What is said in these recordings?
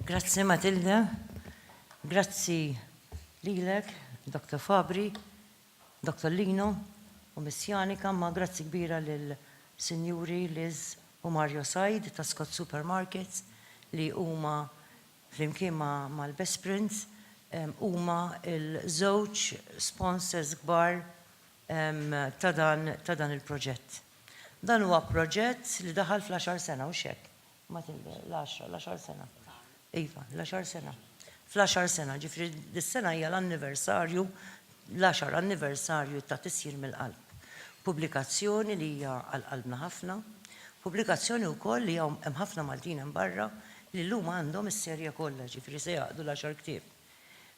Grazzi Matilda, grazzi lilek, Dr. Fabri, Dr. Lino u Miss Janika, ma grazzi kbira lil Sinjuri Liz u Mario Said ta' Scott Supermarkets li huma flimkien mal-Best Prints, huma l-żewġ sponsors kbar ta' dan il-proġett. Dan huwa proġett li daħal fl-għaxar sena, hux hekk? L-għaxra, l-għaxar sena. Iva, l-għaxar sena. Fl-għaxar sena, ġifieri dis-sena hija l-anniversarju l-għaxar anniversarju ta' Tisjir mill-Qalb, pubblikazzjoni li hija għal qalbna ħafna, pubblikazzjoni wkoll li hawn hemm ħafna Maltin hemm barra li llum għandhom is-serje kollha, jiġifieri se jgħaqqdu l-għaxar ktieb.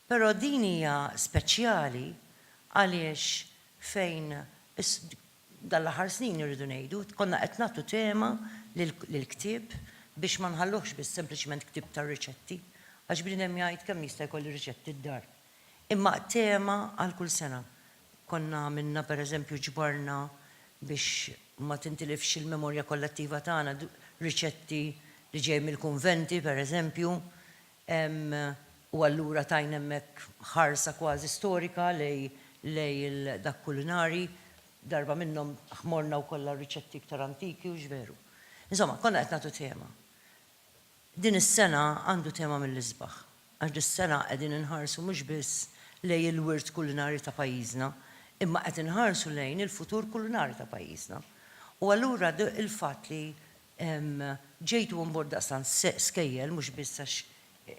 Però din hija speċjali għaliex fejn is, dan l-aħħar snin irridu ngħidu, konna qed nagħtu tema lill-ktieb biex ma nħalluhx biss sempliċement ktieb tar-riċetti, għax bniedem jgħid kemm jista' jkolli riċetti d-dar? Imma tema għal kull sena. Konna għamilna pereżempju ġbarna biex ma tintilifx il-memorja kollettiva tagħna riċetti li ġej mill-kunventi pereżempju u allura tajna hemmhekk ħarsa kważi storika lej dak kulinari. Darba minnhom ħmorna wkoll għar-riċetti iktar antiki u x'veru. Insomma, konna qed nagħtu tema. Din is-sena għandu tema mill-isbaħ, għax dis-sena qegħdin inħarsu mhux biss lejn il-wirt kulinarju ta' pajjiżna, imma qed inħarsu lejn il-futur kulinarju ta' pajjiżna. U allura il-fatt li ġejtu on board daqstant skejjel, mhux biss għax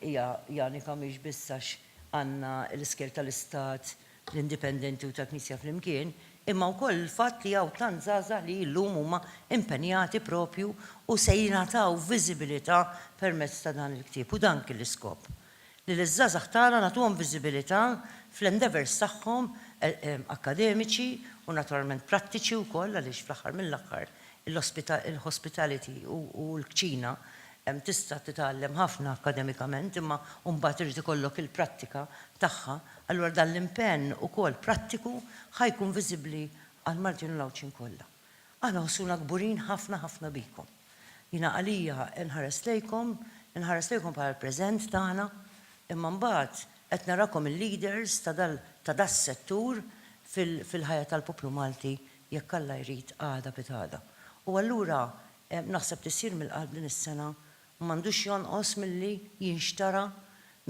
hija Janika mhix biss għax għandna l-iskejjel tal-Istat l-indipendenti u tal-Knisja flimkien, imma wkoll il-fatt li hawn tant żgħażagħ li llum huma impenjati propju u se jingħataw viżibilità permezz ta' dan il-ktieb. U dan kien l-iskop. Li liż-żgħażagħ tagħna nagħtuhom viżibilità fl-endeavours tagħhom akkademiċi u naturalment prattiċi wkoll għaliex fl-aħħar mill-aħħar il-hospitality u l-kċina tista' titgħallem ħafna akkademikament imma mbagħad irid ikollok il-prattika tagħha Allura dan l-impenn ukoll prattiku ħa jkun viżibbli għall-Maltin u l-Għawdxin kollha. Aħna nħossuna kburin ħafna ħafna bikom. Jiena għalija nħares lejkom, inħares lejkom bħala l-preżent tagħna, imma mbagħad qed narakom il-leaders ta' das-settur fil-ħajja tal-poplu Malti jekk Alla jrid għada pitgħada. U allura naħseb li ssir mill-qalb din is-sena m'għandux jonqos milli jinxtara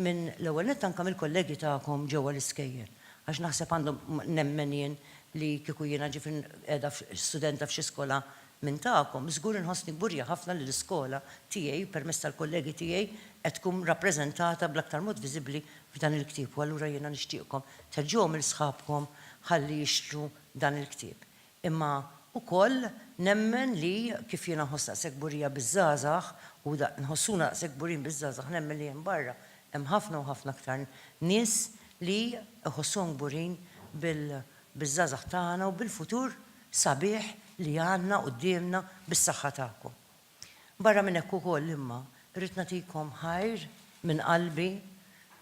minn, l-ewwel nett anke mill-kollegi tagħkom ġewwa l-iskejjel. Għax naħseb għandhom, nemmen jien li kieku jiena ġifi qiegħda studenta f'xi skola minn tagħkom, żgur inħossni kburja ħafna li l-iskola tiegħi permezz tal-kollegi tiegħi qed tkun rappreżentata bl-aktar mod viżibbli f'dan il-ktieb u allura jiena nixtieqkom tħeġġuhom 'il sħabkom ħalli jixtru dan il-ktieb. Imma ukoll nemmen li kif jiena nħoss daqshekk kburija biż-żgħażagħ u nħossuna daqshekk kburin biż-żgħażagħ nemmen li hemm barra hemm ħafna u ħafna aktar nies li jħossuhom kburin biż-żgħażagħ tagħna u bil-futur sabiħ li għandna quddiemna bis-saħħa tagħkom. Barra minn hekk ukoll imma rrid nagħtikom ħajr minn qalbi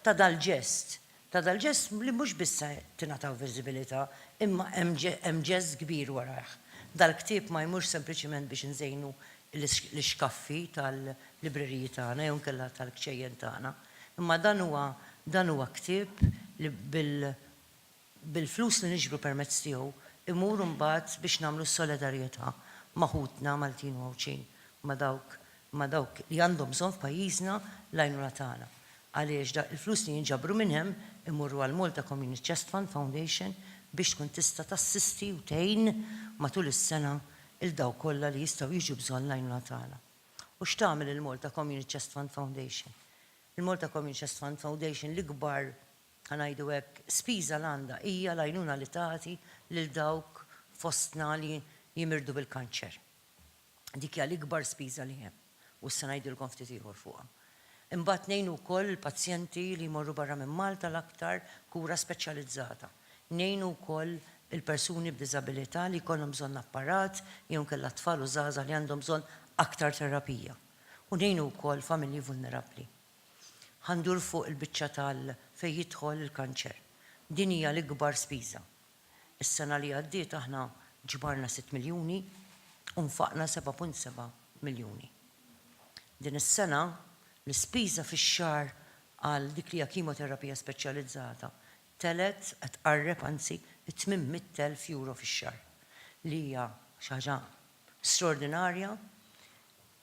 ta' dal-ġest ta' dal-ġest li mhux biss se tingħataw viżibilità imma hemm ġest kbir warajh. Dal-ktieb ma jmurx sempliċement biex inżejnu l-ixkaffi tal-libreriji tagħna jew inkella tal-kċejjen tagħna, imma dan huwa dan huwa ktieb li bil-flus li niġbru permezz tiegħu imur imbagħad biex nagħmlu solidarjetà ma' ħutna Maltin u Għawdxin, ma' dawk ma' dawk li għandhom bżonn f'pajjiżna l-għajnuna tagħna għaliex dak il-flus li jinġabru minn hemm imorru għal Malta Community Chest Fund Foundation biex tkun tista' tassisti u tgħin matul is-sena 'l dawk kollha li jistgħu jiġu bżonn l-għajnuna tagħna. U x'tagħmel il-Malta Community Chest Fund Foundation? Il-Malta Community Chest Fund Foundation l-ikbar, ħa ngħidu hekk, spiża li għandha hija l-għajnuna li tagħti lil dawk fostna li jimirdu bil-kanċer. Dik hija l-ikbar spiża li hemm, u issa ngħidilkom ftit ieħor fuqha. Imbagħad ngħinu wkoll il-pazjenti li jmorru barra minn Malta l-aktar kura speċjalizzata. Ngħinu wkoll il-persuni b'diżabilità li jkollhom bżonn apparat jew inkella t-tfal u żgħażagħ li għandhom bżonn aktar terapija. U ngħinu wkoll familji vulnerabbli. Ħa ndur fuq il-biċċa tal fejn jidħol il-kanċer. Din hija l-ikbar spiża. Is-sena li għaddiet aħna ġbarna sitt miljuni u nfaqna seba' punt seba' miljuni. Din is-sena l-ispiża fix-xahar għal dik li hija kimoterapija speċjalizzata telgħet qed tqarreb anzi t-tmien mitt elf euro fix-xahar li hija xi ħaġa straordinarja,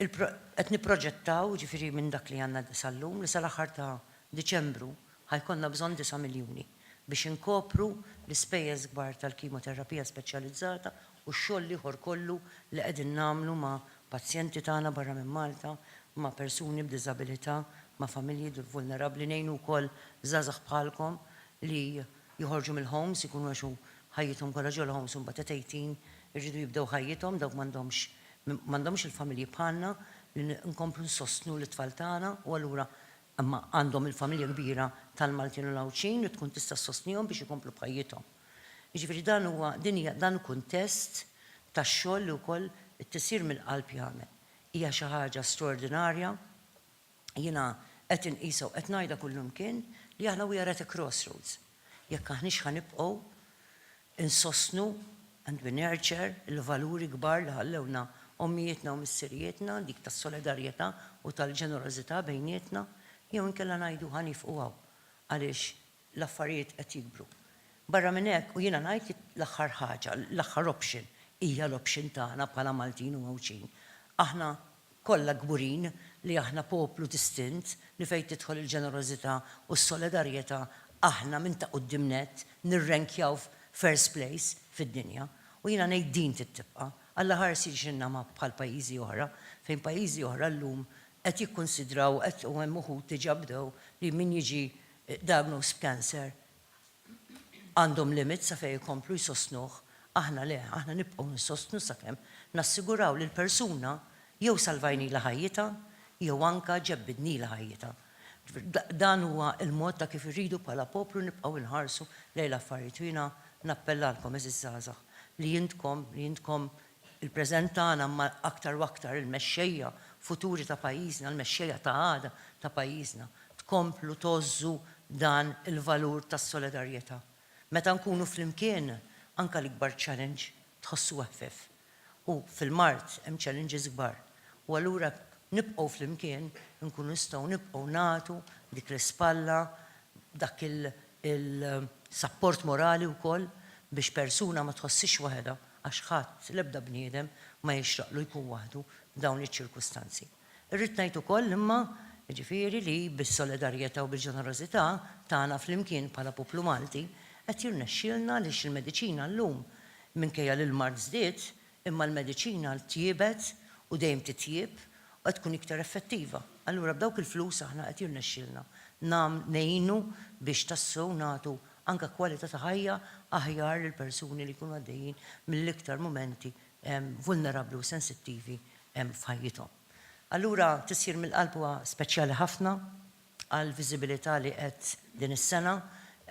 qed nipproġettaw, jiġifieri minn dak li għandna sal-lum, li sal-aħħar ta' Diċembru ħa jkollna bżonn disa' miljuni biex inkopru l-ispejjeż kbar tal-kimoterapija speċjalizzata u x-xogħol l-ieħor kollu li qegħdin nagħmlu ma' pazjenti tagħna barra minn Malta, ma' persuni b'diżabilità, ma' familji vulnerabbli, ngħinu wkoll żgħażagħ bħalkom li joħorġu mill-homes ikunu għax hu ħajjithom kollha ġo l-homes u mbagħad at eighteen iridu jibdew ħajjithom dawk m'għandhomx m'għandhomx il-familji bħalna li nkomplu nsostnu lit-tfal tagħna u allura imma għandhom il-familja kbira tal-Maltin u l-Għawdxin li tkun tista' ssostnihom biex ikomplu b'ħajjithom. Jiġifieri dan huwa din hija dan hu kuntest tax-xogħol li wkoll it-Tisir mill-Qalb jagħmel. Hija xi ħaġa straordinarja Jiena qed inqisha u qed ngħidha kullimkien li aħna we are at a crossroads. Jekk aħniex ħa nibqgħu nsostnu and we nurture il-valuri kbar li ħallewlna ommijietna u missirijietna, dik tas-solidarjetà u tal-ġenerożità bejnietna, jew inkella ngħidu ħa niefqu hawn għaliex L-affarijiet qed jikbru. Barra minn hekk, u jiena ngħid li l-aħħar ħaġa, l-aħħar option hija l-option tagħna bħala Maltin u Għawdxin. Aħna kollha kburin li aħna poplu distint li fejn tidħol il-ġenerożità u s-solidarjetà aħna minn ta' quddiem nett nirrenkjaw first place fid-dinja. U jiena ngħid din trid tibqa'. Alla ħarsi jġinna ma bħal pajjiżi oħra, fejn pajjiżi oħra llum qed jikkunsidraw u qed u hemm uħud diġà bdew li min jiġi Diagnosed b'cancer għandhom limit sa fejn ikomplu jsostnuh, aħna le, aħna nibqgħu nsostnu sakemm nassiguraw li l-persuna jew salvajnilha ħajjitha jew anke ġebbidnilha ħajjitha. Dan huwa l-mod ta' kif irridu bħala poplu nibqgħu nħarsu lejn l-affarijiet u jiena nappellalkom għeżież żgħażagħ li intkom li intkom Il-preżent tagħna imma aktar u aktar il-mexxejja futuri ta' pajjiżna, il-mexxejja ta' għada ta' pajjiżna, tkomplu tgħożżu dan il-valur tas-solidarjetà. Meta nkunu flimkien, anke l-ikbar challenge tħossu eħfef. U fil-mard hemm challenges kbar. U allura jekk nibqgħu flimkien, inkunu nistgħu nibqgħu nagħtu dik l-ispalla, dak il-sapport morali wkoll biex persuna ma tħossiex waħedha għax ħadd, l-ebda bniedem, ma jixraqlu jkun waħdu f'dawn iċ-ċirkustanzi. Irrid ngħid ukoll imma, jiġifieri, li bis-solidarjetà u bil-ġenerożità tagħna flimkien bħala poplu Malti qed jirnexxielna għaliex il-mediċina llum, minkejja li l-mard żdied, Imma l-mediċina tjiebet u dejjem titjieb u qed tkun iktar effettiva. Allura b'dawk il-flus aħna qed jirnexxielna ngħinu biex tassew nagħtu anke kwalità ta' ħajja aħjar lill-persuni li jkunu għaddejjin mill-iktar mumenti vulnerabbli u sensittivi f'ħajjithom. Allura tisjir mill-qalb huwa speċjali ħafna għall-viżibilità li qed din is-sena,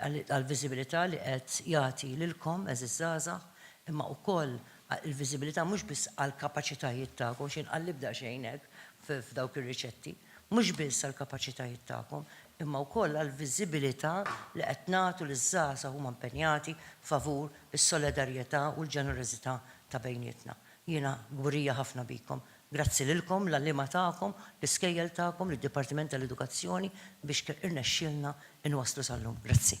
għall-viżibilità li qed jagħti lilkom, għeżież żgħażagħ, imma wkoll il-viżibilità mhux biss għall-kapaċitajiet tagħkom, xejn qal l-ebda xejn hekk f'dawk ir-riċetti, mhux biss għall-kapaċitajiet tagħkom, imma wkoll għall-viżibilità li qed nagħtu liż-żgħażagħ huma impenjati favur is-solidarjetà u l-ġenerożità ta' bejnietna. Jiena kburija ħafna bikom Grazzi lilkom, l-għalliema tagħkom, l-iskejjel tagħkom, lid-Dipartiment tal-Edukazzjoni biex irnexxielna inwasslu sal-lum. Grazzi.